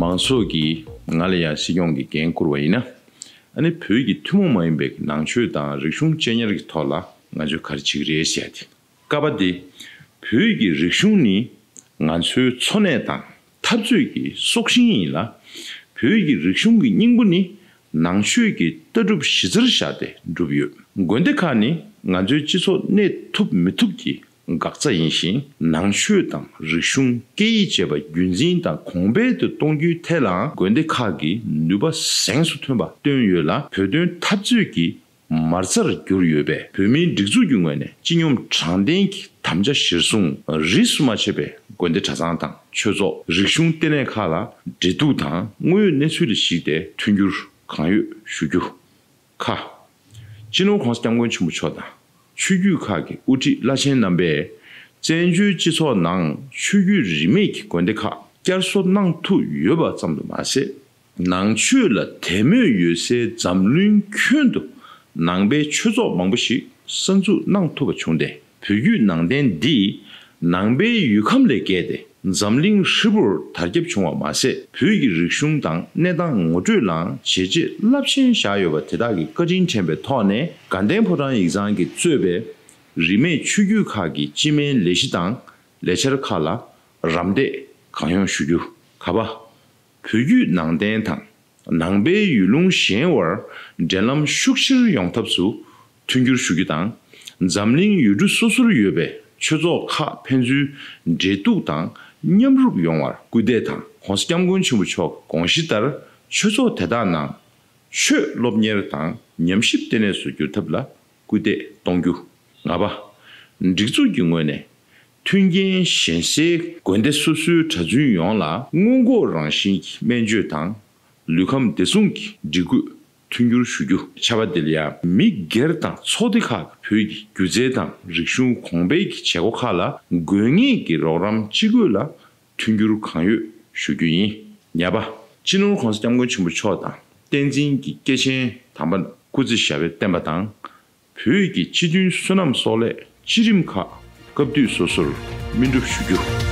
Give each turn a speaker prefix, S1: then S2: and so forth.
S1: མང་ཚོགས་ཀྱིས་ང་ལ་ཡང་སྲིད་སྐྱོང་གི་འགན་བསྐུར་བ་ཡིན་ན། ནི་བོད་ཀྱི་ཐུན་མོང་མ་ཡིན་པའི་ནང་ཆོས་དང་རིག་གཞུང་གཅེས་ཉར་གྱི་ཐོག་ལ་ང་ཚོས་ག་རེ་བྱེད་ཀྱི་རེད་བཤད་དེ། བསྐལ་པ་དེ། བོད་ཀྱི་རིག་གཞུང་ནི་ང་ཚོའི་འཚོ་གནས་དང། འཐབ་རྩོད་ཀྱི་སྲོག་ཤིང་ཡིན་ལ། བོད་ཀྱི་རིག་གཞུང་གི་སྙིང་པོ་ནི་ནང་ཆོས་ཀྱི་ལྟ་གྲུབ་གཞི་རྩར་བཞག་སྟེ་གྲུབ་ཡོད། དགོན་སྡེ་ཁག་ནི་ང་ཚོའི་སྤྱི་ཚོགས་གནས་ཐུབ་མི་ཐུབ་ཀྱི་འགག་རྩ་ཡིན་ཞིང་ནང་ཆོས་དང་རིག་གཞུང་སྐད་ཡིག་བཅས་པ་རྒྱུན་འཛིན་དང་གོང་འཕེལ་དུ་གཏོང་རྒྱུའི་ཐད་ལའང་དགོན་སྡེ་ཁག་གིས་ནུས་པ་གཟེངས་སུ་ཐོན་པ་བཏོན་ཡོད་ལ་བོད་དོན་འཐབ་རྩོད་ཀྱི་མར་རྩར་གྱུར་ཡོད་པས་བོད་མིའི་སྒྲིག་འཛུགས་ཀྱི་ངོས་ནས་སྤྱི་སྙོམས་དྲང་བདེན་གྱི་དམ་བཅའ་གཞིར་བཟུང་རིས་སུ་མ་ཆད་པའི་དགོན་སྡེ་གྲྭ་ཚང་དང་ཆོས་ཚོགས་རིག་གཞུང་ལྟེ་གནས་ཁག་ལ་འབྲེལ་གཏུག་དང་དངོས་ཡོད་གནས་ཚུལ་ལ་གཞིགས་ཏེ་མཐུན་འགྱུར་གང་ཡོད་ཞུ་རྒྱུ། ཁ། སྤྱི་ནོར ྋགོང་ས ྋསྐྱབས་མགོན་ཆེན་པོ་མཆོག་དང་ཆོས་བརྒྱུད་ཁག་གི་དབུ་ཁྲིད་བླ་ཆེན་རྣམ་པས་བཙན་བྱོལ་སྤྱི་ཚོགས་ནང་ཆོས་བརྒྱུད་རིས་མེད་ཀྱི་དགོན་སྡེ་ཁག་བསྐྱར་གསོ་གནང་ཐུབ་ཡོད་པ་ཙམ་དུ་མ་ཟད། ནང་ཆོས་ལ་དད་མོས་ཡོད་སའི་འཛམ་གླིང་ཁྱོན་དུ་ནང་པའི་ཆོས་ཚོགས་མང་པོ་ཞིག་གསར་འཛུགས་གནང་ཐུབ་པ་བྱུང་སྟེ་བོད་བརྒྱུད་ནང་བསྟན་འདི་ནང་པའི་ཡུལ་ཁམས་ལས་བརྒལ་ཏེ་འཛམ་གླིང་ཧྲིལ་པོར་དར་ཁྱབ་བྱུང་བ་མ་ཟད་བོད་ཀྱི་རིག་གཞུང་དང་གནས་སྟངས་ངོ་སྤྲོད་ལའང་བྱས་རྗེས་རླབས་ཆེན་བཞག་ཡོད་པ་དེ་དག་གི་བཀའ་དྲིན་དྲན་པའི་ཐོག་ནས་དགའ་ལྡན་ཕོ་བྲང་ཡིག་ཚང་གིས་གཙོས་པའི་རིས་མེད་ཆོས་བརྒྱུད་ཁག་གི་སྤྱི་སྨན་ལས་གཞི་དང་ལས་འཆར་ཁག་ལ་རམ་འདེགས་གང་ཡོང་ཞུ་རྒྱུ་ག་པ། བོད་བརྒྱུད་ནང་བསྟན་དང་ནང་པའི་ཡུལ་ལུང་གཞན་དབར་འབྲེལ་ལམ་ཤུགས་ཆེར་ཡོང་ཐབས་སུ་མཐུན་འགྱུར་ཞུ་རྒྱུ་དང། འཛམ་གླིང་ཡུལ་གྲུ་སོ་སོར་ཡོད་པའི་ཆོས་ཚོགས་ཁག་ཕན་ཚུན་འབྲེལ་གཏུག་དང་མཉམ་རུབ་ཡོང་བར་སྐུལ་འདེད་དང ྋགོང་ས ྋསྐྱབས་མགོན་ཆེན་པོ་མཆོག་གི་དགོངས་གཞི་ལྟར་ཆོས་ཚོགས་དེ་དག་ནང་ཆོས་སློབ་གཉེར་དང་ཉམས་ཞིབ་ལྟེ་གནས་སུ་འགྱུར་ཐབས་ལ་སྐུལ་འདེད་གཏོང་རྒྱུ། ལྔ་པ། སྒྲིག་འཛུགས་ཀྱི་ངོས་ནས། མཐུན་རྐྱེན་གཞན་སའི་དགོན་སྡེ་སོ་སོའི་གྲྭ་བཙུན་ཡོངས་ལ། སྔོན་འགོག་རང་བཞིན་གྱི་སྨན་བཅོས་དང་ལུས་ཁམས་བདེ་སྲུང་གི་སྒྲིག་བཀོད་མཐུན་འགྱུར་ཞུ་རྒྱུ། ཆབ་པ་འདིར་ཡང་མི་སྒེར་དང་ཚོགས་སྡེ་ཁག་གི་བོད་ཀྱི་སྒྱུ་རྩལ་དང་རིག་གཞུང་གོང་སྤེལ་གྱི་བྱེད་སྒོ་ཁག་ལ་དགོས་ངེས་ཀྱི་རོགས་རམ་ཅི་དགོས་ལ་མཐུན་འགྱུར་གང་ཡོད་ཞུ་རྒྱུ་ཡིན། ཉེས་པ། སྤྱི་ནོར ྋགོང་ས ྋསྐྱབས་མགོན་ཆེན་པོ་མཆོག་དང་བསྟན་འཛིན་གྱི་སྐྱེས་ཆེན་དམ་པ་སྐུ་ཚེ་ཞབས་པད་བརྟན་པ་དང། བོད་ཀྱི་སྤྱི་མཐུན་བསོད་ནམས་སོགས་ལས་སྤྱི་རིམ་ཁག་སྐབས་དུས་སོ་སོར་སྨིན་སྒྲུབ་ཞུ་རྒྱུ།